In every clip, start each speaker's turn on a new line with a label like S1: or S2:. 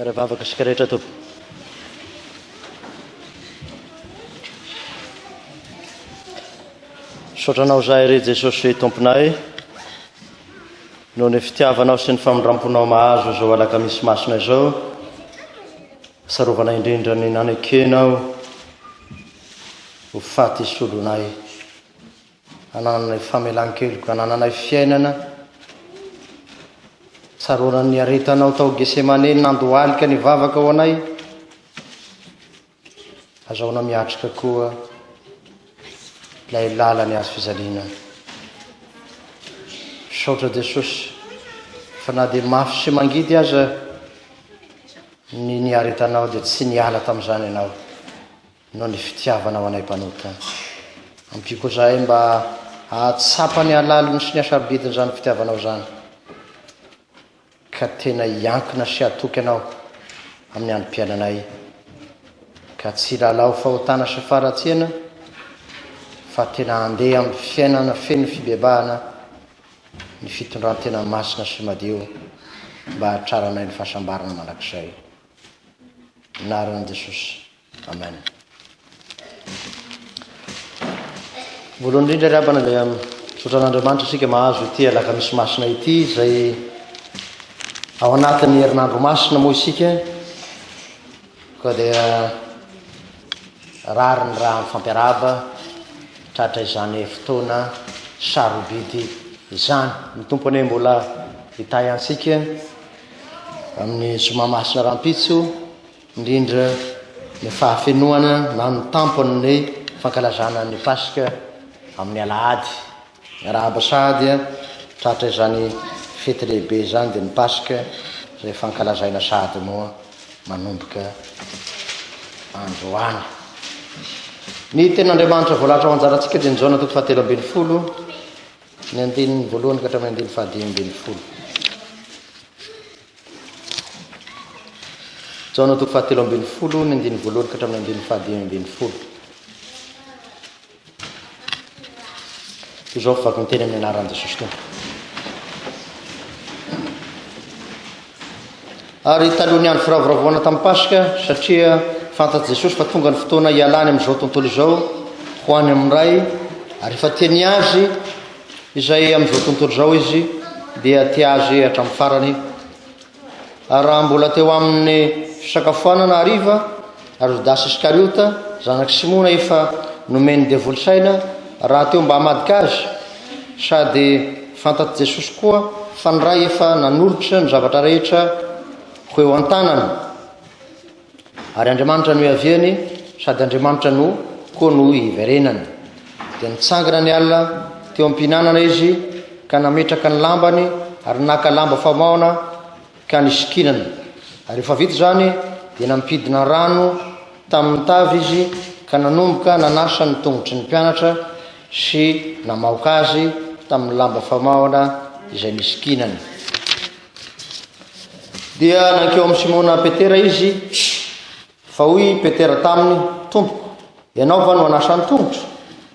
S1: Ary vavaka isika rehetra Tompo. Misaotra Anao izahay re Jesosy Tomponay noho ny fitiavanao sy ny famindram-ponao mahazo izao alakamisy masina izao. Sarovana indrindra ny nanekenao ho faty solonay. Anananay famelan-keloka, anananay fiainana, tsaroana ny aretanao tao Gesemane, nandohalika ny vavaka ho anay, azahoana miatrika koa ilay lalany azo fijaliana. Misaotra Jesosy, fa na dia mafy sy mangidy aza ny niaretanao dia tsy niala tamin'izany ianao. Noho ny fitiavana ho anay mpanota, ampiako izahay mba hahatsapa ny halaliny sy ny hasarobidin'izany fitiavanao izany, ka tena hiankina sy hatoky anao amin'ny androm-piainanay, ka tsy hilalao fahotana sy faharatsiana, fa tena handeha amin'ny fiainana feno fibebahana ny fitondran-tena masina sy madio, mba hahatraranay ny fahasambarana mandrakizay. Naran'i Jesosy. Amen. Voalohany indrindra ry abana dia misaotra an'Andriamanitra isika mahazo ity alakamisy masina ity izay ao anatin'ny herinandro masina moa isika koa dia rary ny raha mifampiaraba tratra izany fotoana sarobidy izany ny tompo anie mbola hitahy antsika amin'ny zoma masina rahampitso indrindra ny fahafenoana na ny tampon' ny fankalazana ny Paska amin' ny Alahady. Miarahaba sahady a! Tratra izany fety lehibe izany dia ny Paska izay fankalazaina sahady moa manomboka androany. Ny tenin' Andriamanitra voalahatra ho anjarantsika dia ny Jaona toko fahatelo ambin'ny folo ny andininy voalohany ka hatramin'ny andininy fahadimy ambin'ny folo. Jaona toko fahatelo ambin'ny folo, ny andininy voalohany ka hatramin'ny andininy fahadimy ambin'ny folo. Izao vaky ny teny amin'ny anaran'i Jesosy Tompo. Ary taloha ny andro firavoravoana tamin'ny Paska, satria fantatr'i Jesosy fa tonga ny fotoana hialany amin'izao tontolo izao, ho any amin'ny Ray, ary efa teny azy izay amin'izao tontolo izao izy dia tia azy hatramin'ny farany, ary raha mbola teo amin'ny fisakafoanana hariva ary Jodasy Iskariota zanak'i Simona efa nomen'ny devoly saina rahateo mba hamadika azy, sady fantatr'i Jesosy koa fa ny Ray efa nanolotra ny zavatra rehetra ho eo an-tanany. Ary Andriamanitra no iaviany, sady Andriamanitra no koa no hiverenany. Dia nitsangana ny alina teo am-pihinanana izy, ka nametraka ny lambany, ary naka lamba famaona, ka nisikinana. Ary rehefa vita izany, dia nampidina rano tamin'ny tavy izy, ka nanomboka nanasa ny tongotry ny mpianatra sy namaoka azy tamin'ny lamba famaona izay nisikinany. Dia nankeo amin'i Simona Petera izy, fa hoy Petera taminy, Tompoko, ianao va no hanasa ny tongotro?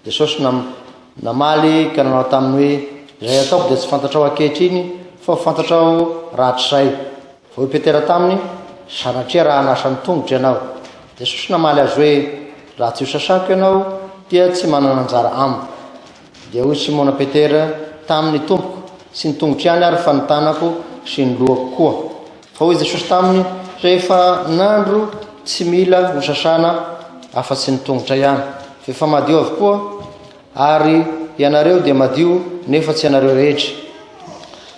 S1: Jesosy nam, namaly ka nanao taminy hoe, Izay ataoko dia tsy fantatrao ankehitriny, fa ho fantatrao rahatrizay. Fa hoy Petera taminy, Sanatria raha hanasa ny tongotro ianao. Jesosy namaly azy hoe, Raha tsy hosasako ianao, dia tsy manana anjara amiko. Dia hoy Simona Petera taminy, Tompoko, tsy ny tongotro ihany ary fa ny tanako sy ny lohako koa. Fa hoy Jesosy taminy, Rehefa nandro tsy mila ho sasana afa-tsy ny tongotra ihany, fa efa madio avokoa, ary ianareo dia madio nefa tsy ianareo rehetra.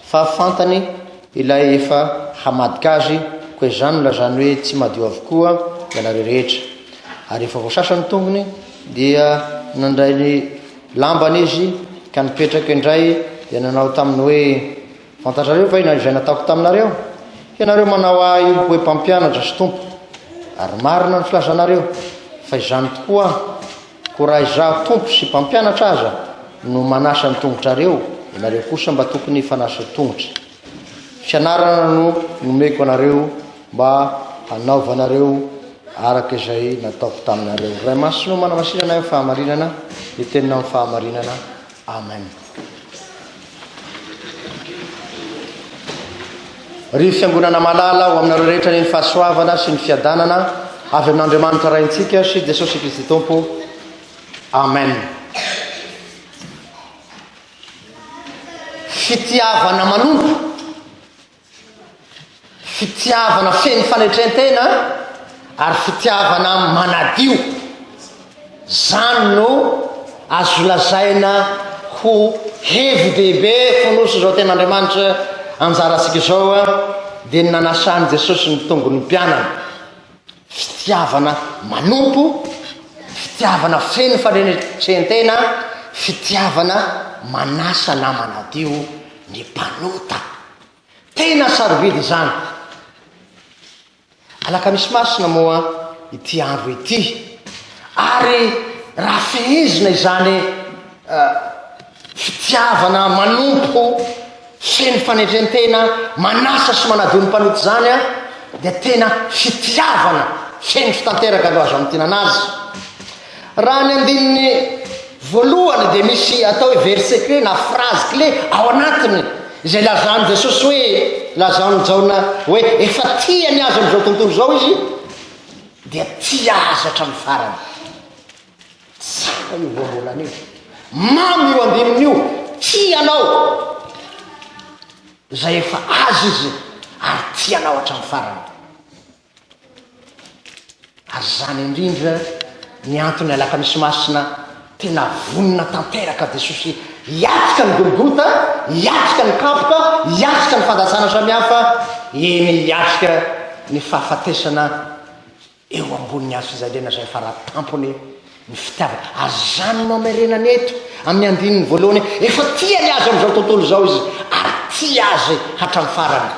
S1: Fa fantany ilay efa hamadika azy, koa izany no lazany hoe tsy madio avokoa ianareo rehetra. Ary efa voasasa ny tongony, Dia nandray ny lambany izy ka nipetraka indray dia nanao taminy hoe, Fantatrareo va izay nataoko taminareo? Ianareo manao ahy hoe mpampianatra sy tompo, ary marina ny filazanareo, fa izany tokoa aho. Ko raha izaho tompo sy mpampianatra aza no manasa ny tongotrareo, ianareo kosa mba tokony fanasa tongotra. Fianarana no nomeko anareo mba hanaovanareo araka izay nataoko taminareo. Ray Masina o, manana sitrana ahy amin'ny fahamarinana, ny teninao amin'ny fahamarinana. Amen. Ry fiangonana malala, ho aminareo rehetra ny fahasoavana sy ny fiadanana avy amin'Andriamanitra Raintsika sy Jesosy Kristy Tompo. Amen. Fitiavana manompo, fitiavana feno fanetrentena ary fitiavana manadio. Zany no azo lazaina ho hevi-dehibe fonosin'izao ten'Andriamanitra anjarantsika izao dia ny nanasan'i Jesosy ny tongony mpianany. fitiavana manompo, fitiavana feno fanetren-tena, fitiavana manasa na manadio ny mpanota. Tena sarobidy izany. Alakamisy masina moa ity andro ity. Ary raha fehezina izany uh, Fitiavana manompo feno fanetren-tena manasa sy manadio ny mpanota izany dia tena fitiavana feno sy tanteraka no azo hamintinana azy. Raha ny andininy voalohany dia misy atao hoe verset clé na phrase clé ao anatiny izay lazan'i Jesosy hoe lazaon'i Jaona hoe efa tia ny azy amin'izao tontolo izao izy dia tia azy hatramin'ny farany. Tsy hita io voambolana io. Mamy io andininy io. Tianao. Izay efa azy izy ary tianao hatramin'ny farany. Ary izany indrindra ny antony alakamisy masina tena vonona tanteraka Jesosy hiatrika ny Golgota, hiatrika ny kapoka, hiatrika ny fandatsana samihafa, eny hiatrika ny fahafatesana Eo ambonin'ny hazo fijaliana izay fara tampony ny fitiavana. Ajanony nohamerenany eto amin'ny andininy voalohany hoe efa tia ny azy amin'izao tontolo izao izy ary tia azy hatramin'ny farany.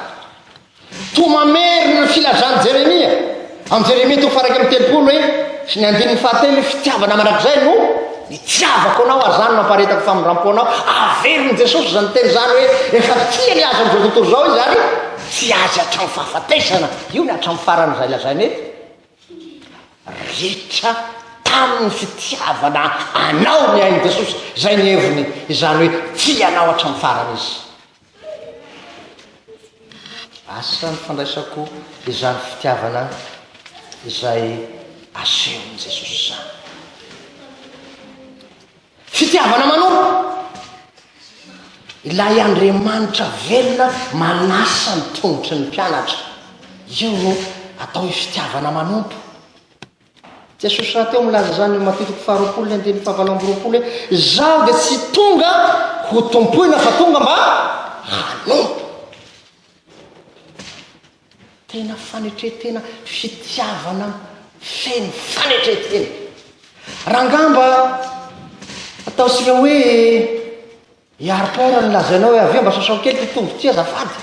S1: Toa mamerina ny filazan'i Jeremia amin'ny Jeremia toko faha iraika amby telopolo hoe sy ny andininy fahatelo hoe fitiavana mandrakizay no nitiavako anao ary izany no hamparetako famindram-po anao. Averin'i Jesosy izany teny izany hoe efa tia ny azy amin'izao tontolo izao izy ary tia azy hatramin'ny fahafatesana. Io ny hatramin'ny farany izay lazaina eto. Ritra tamin'ny fitiavana Anao ny ain'i Jesosy. Izay ny heviny, izany hoe tia Anao hatramin'ny farany Izy. Asa ny fandraisako izany fitiavana izay asehon'i Jesosy izany. Fitiavana manompo. Ilay Andriamanitra velona manasa ny tongotry ny mpianatra. Io no atao hoe fitiavana manompo. Jesosy rahateo milaza izany eo Matio toko faharoapolo ny andininy fahavalo amby roapolo hoe izaho dia tsy tonga ho tompoina fa tonga mba hanompo. Tena fanetretena fitiavana feno fanetretena. Rangaha mba ataontsika hoe hiaro port ny lazainao hoe avy eo mba sasao kely ity tongoty azafady.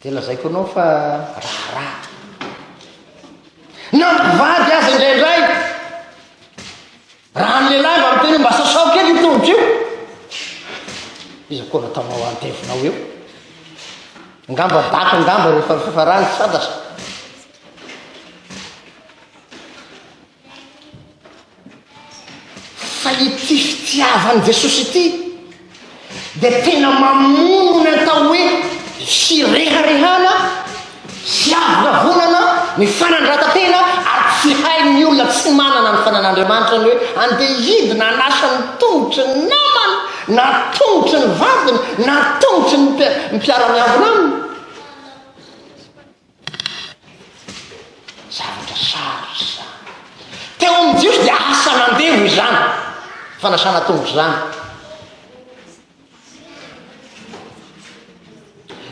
S1: Dia lazaiko anao fa raharaha. Na mpivady aza indraindray Raha ny lehilahy mba miteny hoe mba sasao kely io tongotra io, iza koa nataonao handevinao eo? Angamba daka angamba rehefa fifarany santatra. Fa ity fitiavan'i Jesosy ity dia tena mamono ny atao hoe fireharehana sy avonavonana ny fanandrata-tena ary tsy hain'ny olona tsy manana ny fanan'Andriamanitra ny hoe andeha hidina hanasa ny tongotry ny namany na tongotry ny vadiny na tongotry ny mpiara-miambina aminy. Zavatra sarotra izany. Teo amin'ny Jiosy dia asa nandevo izany, fanasana tongotra izany.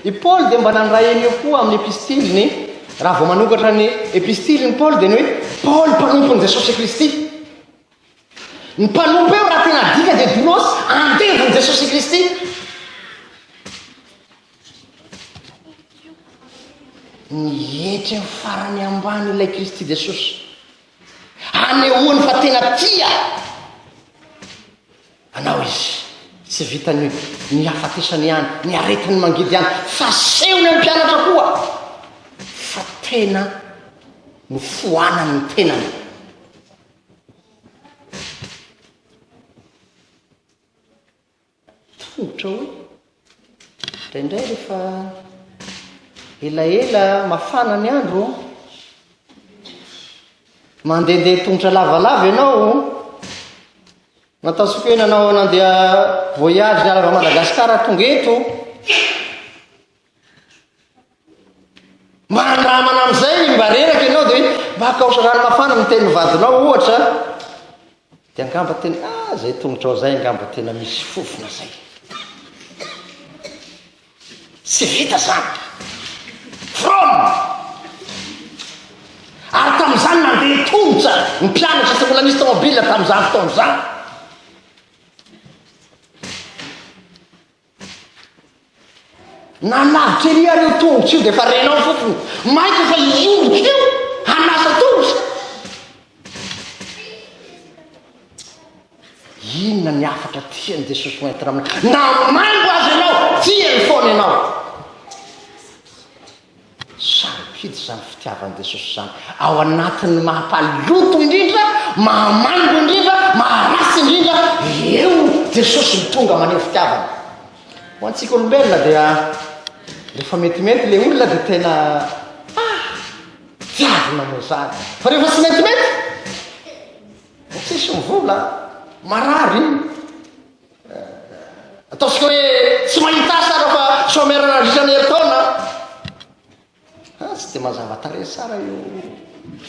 S1: I Paoly dia mba nandray an'io koa amin'ny epistiliny, raha vao manokatra ny epistiliny Paoly dia ny hoe Paoly mpanompon'i Jesosy Kristy. Ny mpanompo eo raha tena dika dia doulos, andevon'i Jesosy Kristy. Ny hetra eo farany ambany ilay Kristy Jesosy. Hanehoany fa tena tia anao izy. Tsy vitan'ny ny hafatesany ihany, ny aretiny mangidy ihany, fa sehony amin'ny mpianatra koa fa tena no foanan'ny tenany. Ohatrao indraindray rehefa elaela mafana ny andro, mandehandeha tongotra lavalava ianao, matasokenanao nandeha voyage niala avy Madagasikara tonga eto. Mandramana amin'izay ny mba reraka ianao dia hoe mba akaoso rano mafana ny tenin'ny vadinao ohatra dia angamba tena ah izay tongotrao izay angamba tena misy fofona izay tsy vita izany from ary tamin'izany nandeha tongotra ny mpianatra tsy mbola misy tomobila tamin'izany fotoana izany Nanavika ery ary io tongotra io dia efa renao fotsiny. Maika fa hiondrika io hanasa tongotra. Inona ny hafatra tian'i Jesosy ho entina aminao? Na maingo aza ianao, tiany foana ianao. Sarobidy izany fitiavan'i Jesosy izany. Ao anatin'ny maha-mpaloto indrindra, maha-maimbo indrindra, maha-ratsy indrindra, eo Jesosy no tonga maneho fitiavana. Ho antsika olombelona dia rehefa metimety ilay olona dia tena ah, tiavina moa izany. Fa rehefa tsy metimety, tsisy mivola, marary. Ataontsika hoe tsy mahita asa aho fa chômeur nandritra ny herintaona. Ha, tsy dia mazava tarehy tsara io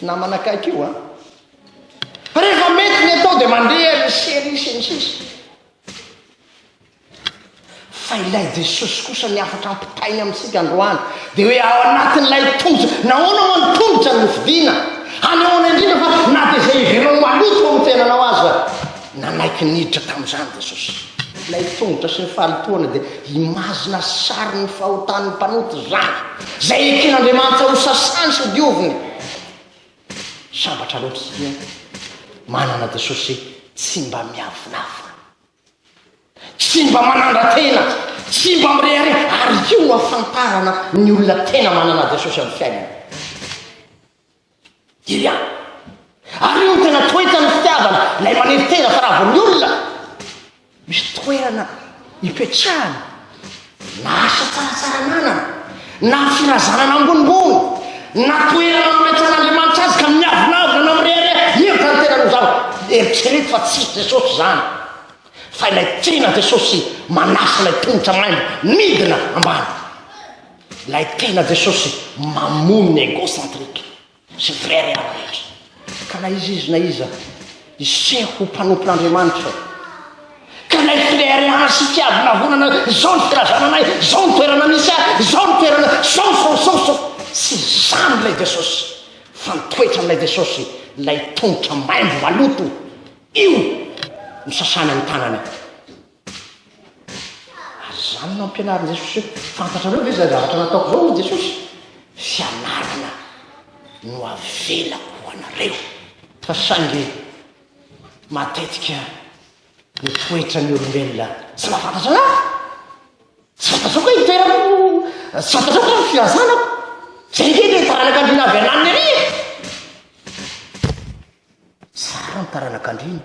S1: namana akaiky io a. Fa rehefa mety ny atao dia mandeha ny serie sy ny sisa. Fa ilay Jesosy kosa ny hafatra ampitainy amintsika androany dia hoe ao anatin'ilay tondrotra, nahoana moa ny tondrotra no fidina? Hanehoana indrindra fa na dia izay ivelany maloto ao amin'ny tenanao aza. Nanaiky niditra tamin'izany Jesosy. Ilay tongotra sy ny fahalotoana dia imazina sarin'ny fahotan'ny mpanota izany, izay eken'Andriamanitra hosasany sy hodioviny. Sambatra loatra isika manana Jesosy tsy mba miavonavona, tsy mba manandra-tena, tsy mba mirehareha, ary io no ahafantarana ny olona tena manana Jesosy amin'ny fiainany. Diria! Ary io no tena toetran'ny fitiavana, ilay manefy tena fa raha vao ny olona misy toerana ipetrahana, na asa tsara tsara ananana, na firazanana ambonimbony, na toerana nametrahan'Andriamanitra azy ka miavonavona na mirehareha, io zany tena no zaho eritrereto fa tsy i Jesosy zany, fa ilay tiana Jesosy manasa ilay tongotra maimbo midina ambany. Ilay tena Jesosy mamono ny egocentric sy vrai real rehetra. Ka na iza izy na iza hiseho ho mpanompon'Andriamanitra eo. Ka ilay flearean sy fiavonavonana, izao ny filazana anay, izao ny toerana misy ahy, izao ny toerana, izao, izao, izao, izao. Tsy izany ilay Jesosy, fa ny toetran'ilay Jesosy, ilay tongotra maimbo maloto, io no sasana ny tanany. Ary izany no ampianarin'i Jesosy hoe, Fantatrareo ve izay zavatra nataoko izao, hoy Jesosy? Fianarana no avelako ho anareo. Fa saingy matetika ny toetran'ny olombelona tsy mahafantatra an'ahy. Tsy fantatrao koa ny toerako, tsy fantatrao koa ny filazanako. Izay ve ilay taranak'andriana avy ananiny ery e? Tsara ny taranak'andriana.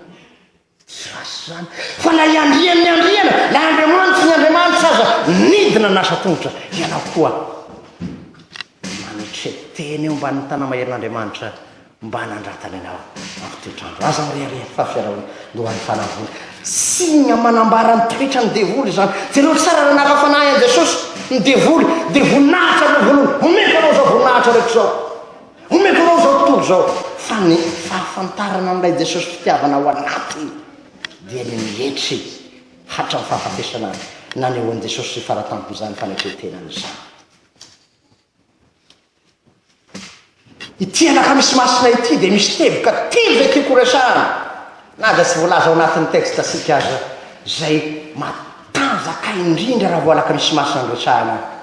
S1: Tsy ratsy izany, fa na i Andriany ny Andriana, na Andriamanitry ny Andriamanitra aza nidina nasa tongotra, ianao koa mametre tena eo ambanin'ny Tanamaherin'Andriamanitra mba hanandratany anao amin'ny toetr'andro. Aza mirehareha fa fiarahoana no an'ny fanahy voa. Signe manambara ny toetran'ny devoly izany. Jereo tsara raha naka fanahy an'i Jesosy ny devoly, dia voninahitra aloha voalohany, omeko anao izao voninahitra reko izao. Omeko anao izao tontolo izao, fa ny fahafantarana an'ilay Jesosy fitiavana ao anatiny dia ny mietry hatramin'ny fahafatesana azy. Nanehoan'i Jesosy sy fara tampon'izany fanetren-tenany izany. Ity anakamisy masina ity dia misy teboka telo izay tiako horesahana. Na dia tsy voalaza ao anatin'ny texte-tsika aza izay matanjaka indrindra raha voalaka misy masina niresahana ahy.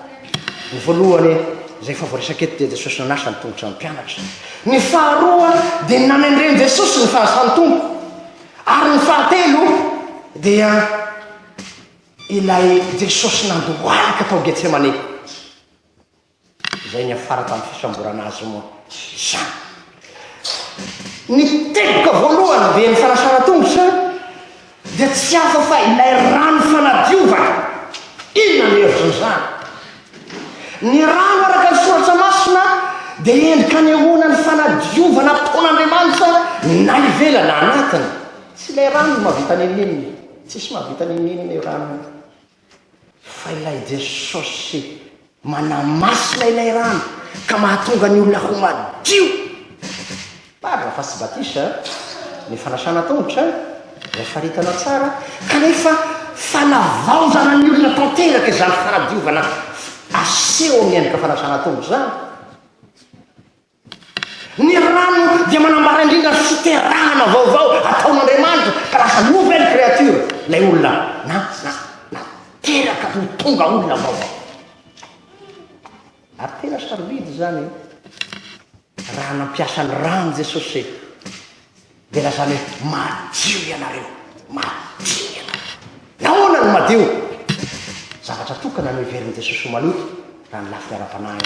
S1: Ny voalohany, izay efa voaresaka eto, dia Jesosy nanasa ny tongotra ny mpianatra. Ny faharoa, dia ny nanendren'i Jesosy ny fahazasan'ny Tompo. Ary ny fahatelo, dia ilay Jesosy nandohalika tao Getsemane. Izay niafara tamin'ny fisamborana azy moa izany. Ny teboka voalohany dia ny fanasanan-tongotra dia tsy hafa fa ilay rano fanadiovana. Inona no hevitr'izany? Ny rano araka ny soratra masina dia endrika anehoana ny fanadiovana ataon'Andriamanitra na ivelany na anatiny. Tsy ilay rano no mahavita nenenina, tsisy mahavita nenenina io rano io. Fa ilay Jesosy manamasina ilay rano ka mahatonga ny olona ho madio. Par la face baptiste, ny fanasana tongotra, izay faritana tsara, kanefa fanavaozana ny olona tanteraka izany fanadiovana aseho amin'ny endrika fanasana tongotra izany. Ny rano dia manambara indrindra ny fiterahana vaovao ataon'Andriamanitra ka lasa nouvelle créature ilay olona na na na teraka ho tonga olona vaovao. Ary tena sarobidy izany e. Raha nampiasa ny rano Jesosy dia lazany hoe madio ianareo, madio ianareo. Nahoana no madio? Zavatra tokana no heverin'i Jesosy ho maloto raha ny lafiny ara-panahy.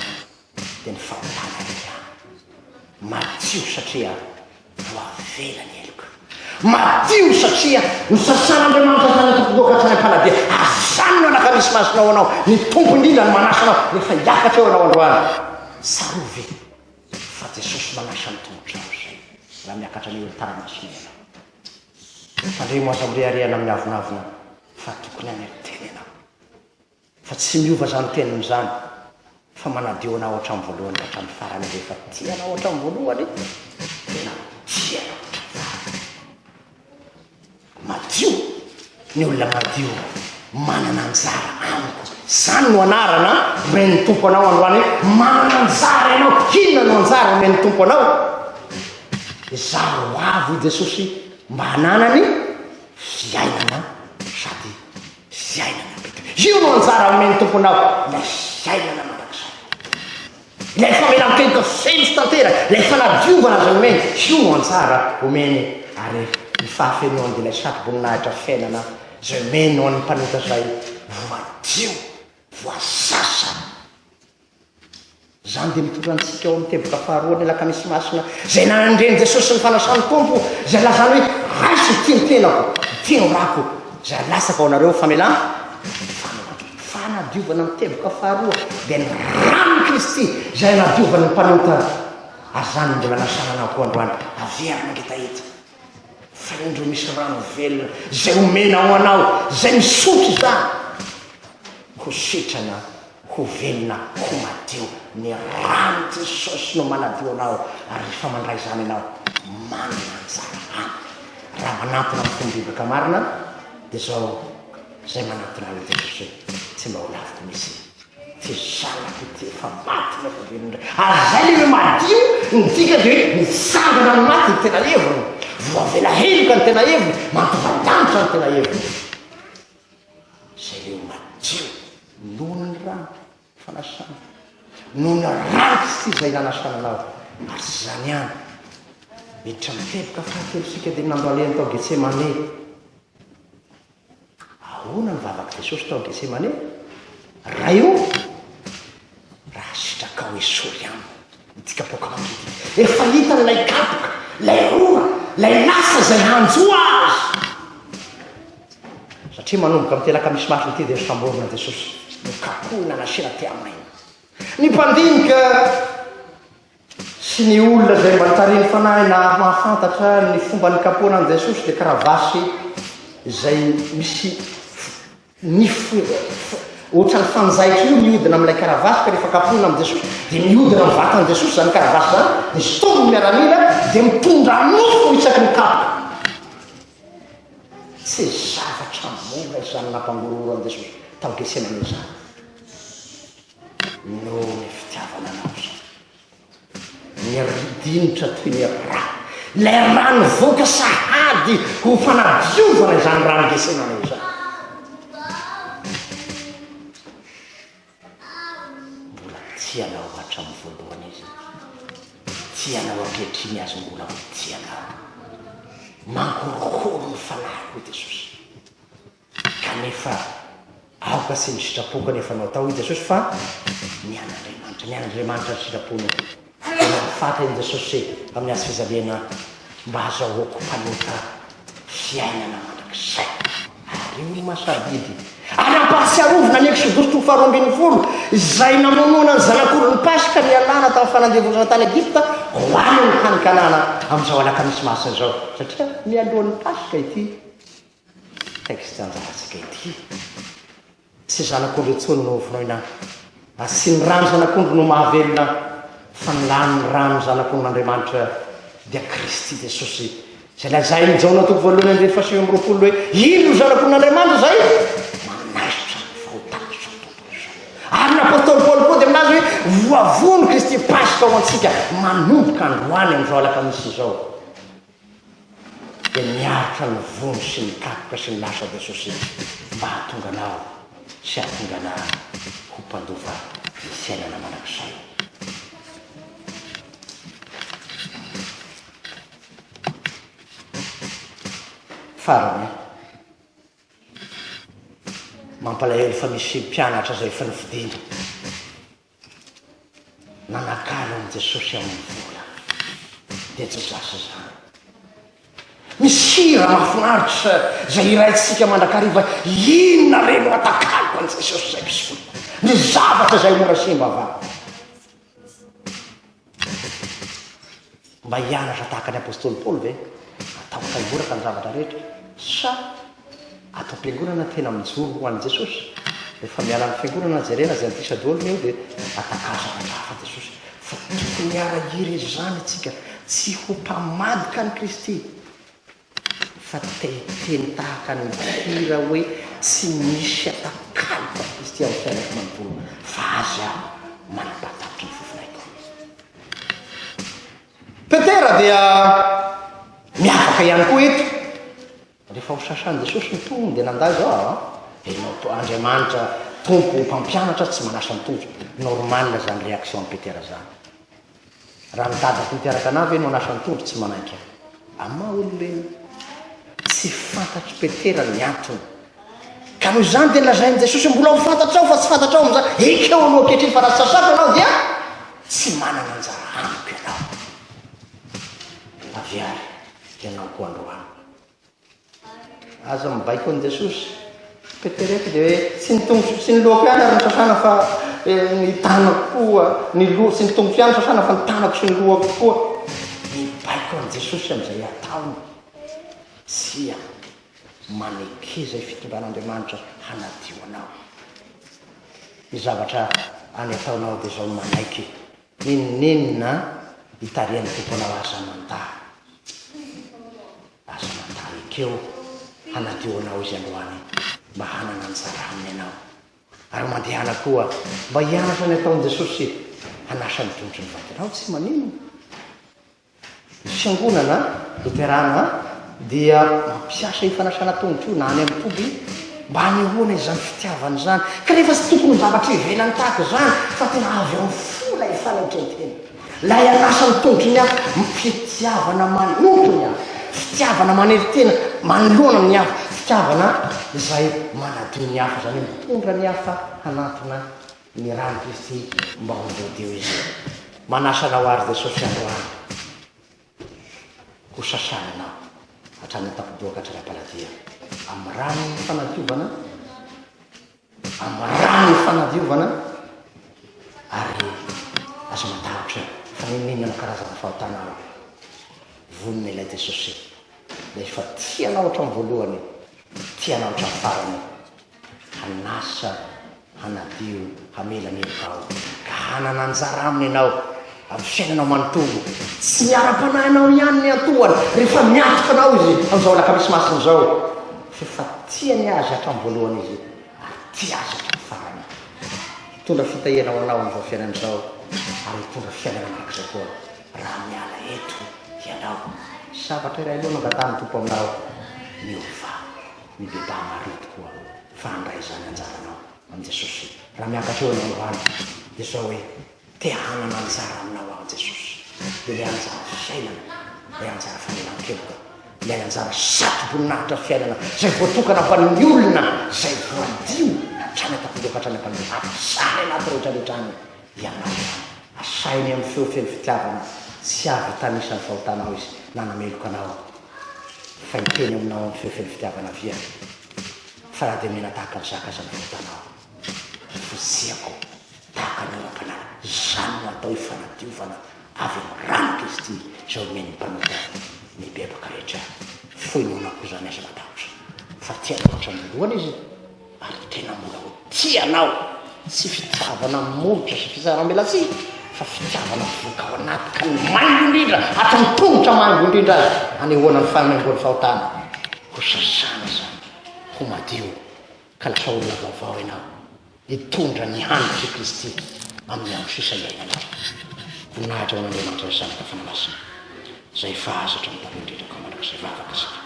S1: dia ny fahotana ihany. Madio satria voavela ny heloka. Madio satria nosasan'Andriamanitra izany ny tompomboko hatrany am-paladia. Azany no anaka misy masina ho anao. Ny Tompo indrindra no manasa anao rehefa hiakatra eo anao androany. Tsarovy ve fa Jesosy manasa ny tongotrao izay raha miakatra ny olon-tany masina ianao. Fandremo aza mirehareha na miavonavona fa tokony hanetena ianao. Fa tsy miova izany teniny izany fa manadio anao hatramin'ny voalohany ka hatramin'ny farany rehefa tia anao hatramin'ny voalohany tena tia anao hatramin'ny farany madio ny olona madio manana anjara amiko izany no anarana omen'ny tompo anao androany hoe manana anjara ianao inona no anjara omen'ny tompo anao izaho avo i jesosy mba hananany fiainana sady Fiainana mampidi-po. Io no anjara omen'ny Tomponao, ilay fiainana mandrakizay. Ilay famelan-keloka feno sy tanteraka, ilay fanadiovana izay omeny, io no anjara omeny, ary ny fahafenoany dia ilay satroboninahitra fiainana izay omeny ho an'ny mpanota izay voadio, voasasa. Izany dia mitondra antsika ao amin'ny teboka faharoan'ny Alakamisy Masina, izay nandren'i Jesosy sy ny fanasan'ny Tompo, izay lazany hoe, Raiso ity ny tenako, ity no rako, izay alatsaka ho anareo ho famelan-tanana. Fanadiovana amin'ny teboka faharoa dia ny ranon'i Kristy, izay anadiovany ny mpanota. Ary izany no mbola nasalanao koa androany, averina ngita eto. Fahendro misy rano velona izay omena ho anao, izay misotro izany, ho sitrana, ho velona, ho madio. Ny ran'i Jesosy no manadio anao, ary rehefa mandray izany ianao, manana anjara aminy. Raha manantona amin'ny fomba bebaka marina, dia izao izay manantona an'i Jesosy hoe, tsy mba ho laviko mihitsy. Tsy zanaka ity efa maty na efa velona indray ary zay le hoe madio ny dikany de hoe mitsangana ny maty ny tena heviny, voavela heloka ny tena heviny, mampivandanitra ny tena heviny. Zay le hoe madio noho ny rano fanasana, noho ny rano tsy tsy zay nanasana anao ary tsy zany ihany, miditra ny feloka fahatelo sika de nandro alehany tao Getsemane. Ahoana no vavak'i Jesosy tao Getsemane? Ray ô, raha sitrakao esory amiko ity kapoakako ity. Efa hitany ilay kapoka, ilay rora, ilay lasa izay hanjo azy. Satria manomboka amin'ny telaka misy maso ny tia dia nosamborina Jesosy, nokapohina nasiana tehamaina. Ny mpandinika sy ny olona izay mba nitarihin'ny Fanahy naha-mahafantatra ny fomba nikapohana an'i Jesosy dia kravasy izay misy nify ohatran'ny fanjaitra io mihodina amin'ilay karavasy ka rehefa kapohina amin'i Jesosy dia mihodina amin'ny vatan'i Jesosy izany karavasy izany dia sotominy ny miaramila dia mitondra nofo isaky ny kapoka tsy zavatra mora izany nampangorohoro an'i Jesosy tao Getsemane izany Noho ny fitiavana anao izy. Niridinitra toy ny rà ilay rà nivoaka sahady ho fanadiovana izany rà nindesena anao izany. Mbola tia anao hatramin'ny voalohany izy. Tia anao ankehitriny azy mbola ho tia anao. Mangorohoro ny fanahiko, Jesosy. Kanefa aoka sy ny sitrapoko anefa no atao hoy Jesosy fa ny an'Andriamanitra, ny an'Andriamanitra ny sitrapony. Dia nahafantatra an'i Jesosy amin'ny hazo fijaliana mba hazahoako mpanota fiainana mandrakizay. Ary io no maha-sarobidy. Ary ampahatsiarovina ny Eksodositro faharoa ambin'ny folo izay namonoana ny zanak'ondrin'ny Paska nialana tamin'ny fanandevozana tany Egypta ho any amin'ny tany Kanana amin'izao alakamisy masina izao, satria mialohan'ny Paska ity. Texte anjarantsika ity. Tsy zanak'ondry intsony no hovonoina fa tsy ny ran'ny zanak'ondry no mahavelona fa ny lan'ny ran'ny zanak'ondrin'Andriamanitra dia Kristy Jesosy izay lazain'i Jaona toko voalohany andininy fahasivy amby roapolo hoe iny no zanak'ondrin'Andriamanitra izay manaisotra ny fahotan'izao tontolo izao. Ary ny apostoly Paoly koa dia milaza hoe voavono Kristy Paska ho antsika manomboka androany amin'izao alakamisy izao. dia miaritra ny vondro sy ny kapoka sy ny lasa de sosety mba hahatonga anao sy hahatonga ana ho mpandova ny fiainana mandrakizay. Farany, mampalahelo fa misy mpianatra izay efa nifidina. Nanakalo an'i Jesosy amin'ny vola dia tsy zasa izany. Misy hira mahafinaritra izay hiraintsika mandrakariva, inona re no atakaloko an'i Jesosy izay mpisolo, ny zavatra izay mora simba va? Mba hianatra tahaka ny apostoly Paoly ve? Atahotra himboraka ny zavatra rehetra? Sa ato am-piangonana tena mijoro ho an'i Jesosy? Rehefa miala ny fiangonana jerena izay an'ity sadolona io dia atakalo zavatra hafa Jesosy. Fa tokony hiara-hiry izany isika tsy ho mpamadika an'i Kristy. Fa teny tahaka ny hira hoe tsy misy atakalo fa Kristy ao amin'ny fiainako manontolo fa Azy aho manapatapitra ny fofonaiko. Petera dia miavaka ihany koa eto. Rehefa ho sasan'i Jesosy ny tongony dia nandà izao aho an. Enao to, Andriamanitra Tompo mpampianatra tsy manasa ny tongotra. Normal izany réaction an'i Petera izany. Raha ny dada koa mpiaraka anah ve no anasa ny tondro tsy manaiky aho. Amin'ny maha olombelona, tsy fantatr'i Petera ny antony. Ka noho izany dia nolazain'i Jesosy, Mbola ho fantatrao fa tsy fantatrao amin'izany, ekeo aloha ankehitriny fa raha tsy sasako ianao dia tsy manana anjara amiko ianao. Avy ary ianao koa androany. Aza mibaiko an'i Jesosy. Peterety dia hoe tsy ny tongotro sy ny lohako ihany ary ny sasana fa eh, ny tanako koa ny loha sy ny tongotro ihany sasana fa ny tanako sy ny lohako koa mibaiko an'i Jesosy amin'izay ataony tsia maneke izay fitondran'Andriamanitra hanadio anao ny zavatra any ataonao dia izao manaiky ninoninona hitarihan'ny tomponao aza mandà Azonao atao ekeo hanadio anao izy androany mba hanana anjara aminy ianao. Ary mandehana koa mba hianatra ny ataon'i Jesosy hanasa ny tongotry ny vadinao. Tsy maninona. Ny fiangonana loterana dia mampiasa io fanasana tongotro io na any amin'ny toby mba hanehoana izany fitiavana izany. Kanefa tsy tokony ho zavatra ivelany tahaka izany fa tena avy amin'ny fo ilay fanaitran-tena. Ilay an'asa ny tondro ny hafa, ny fitiavana manompo ny hafa, fitiavana manery tena manoloana ny hafa, fitiavana izay manadio ny hafa, izany hoe mitondra ny hafa hanatona ny ran'i Kristy mba ho voadio izy. Manasa anao àry Jesosy androany ho sasana anao hatrany an-tampon-doha ka hatrany am-paladia amin'ny ran'ny fanadiovana. Ambarany ny fanadiovana ary aza matahotra fa na inona na inona karazana fahotana ao, vonona ilay Jesosy rehefa tia anao hatramin'ny voalohany, tia anao hatramin'ny farany, hanasa, hanadio, hamela ny heloka ao, ka hanana anjara aminy ianao. Amin'ny fiainanao manontolo, tsy ny ara-panahinao ihany no iantohany rehefa miatoka anao Izy amin'izao Alakamisy Masina izao, f'efa tiany azy hatramin'ny voalohany Izy ary tia azy hatramin'ny farany. Hitondra fitahiana ho anao amin'izao fiainana izao ary hitondra fiainana mandrakizay koa raha miala eto ianao. Sabatra iray aloha no angatahan'ny Tompo aminao, miova, mibebaha marina tokoa fa handray izany anjaranao amin'i Jesosy raha miakatra eo ianao androany dia izao hoe, Te hanana anjara aminao aho Jesosy, ilay anjara fiainana, ilay anjara fanelan-keloka, ilay anjara satroboninahitra fiainana izay voatokana ho an'ny olona izay voadio hatrany an-tampondreo ka hatrany am-paniry ady sahany anaty rehetrarehetra any Ianao. Asainy amin'ny feo feno fitiavana tsy avy hitanisa ny fahotanao Izy na hanameloka anao aho fa hiteny aminao amin'ny feo feno fitiavana Avia fa na
S2: dia mena tahaka ny zaka aza ny fahotanao, fotsiako. Tahaka ny ara-panahy, izany no atao hoe fanadiovana avy amin'ny ran'i Kristy izay omen'ny mpanota ny bebaka rehetra. Fohy noana koa izany aza matahotra, fa tia anao hatramin'ny voalohany izy, ary tena mbola ho tia anao. Tsy fitiavana molotra sy fisaram-belatsihy, fa fitiavana mivoaka ao anaty, ka ny maivo indrindra, hatramin'ny tongotra maivo indrindra aza, hanehoana ny fahamaimboan'ny fahotana. Hosasana izany, ho madio, ka lasa olona vaovao ianao. Hitondra ny hanitr' i Kristy amin' ny andro sisa iainanareo. Voninahitra ho an' Andriamanitra Ray Zanaka Fanahy Masina izay fahazatra ny taloha indrindra ka mandrakizay vavaka isika.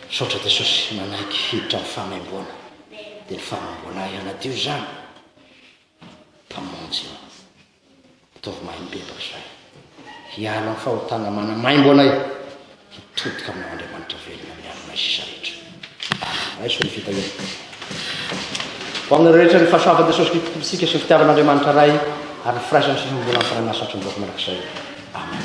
S2: Misaotra Jesosy manaiky hiditra am fahamaimboana de ny fahamaimboana ahy hanadio izany Mpamonjy ô. Ataovy mahay mibebaka izany. Hiala amin'ny fahotana manamaimbo anay. Hitodika aminao Andriamanitra velona miaro anay sisa rehetra. Raiso ny fitahiana. Ho amin'ny rehetra ny fahasoavan'i Jesosy Kristy Tompontsika sy ny fitiavan'Andriamanitra Ray ary ny firaisany sy ny fiombonan'ny fanahy masina hatry ny vahoaka mandrakizay. Amen.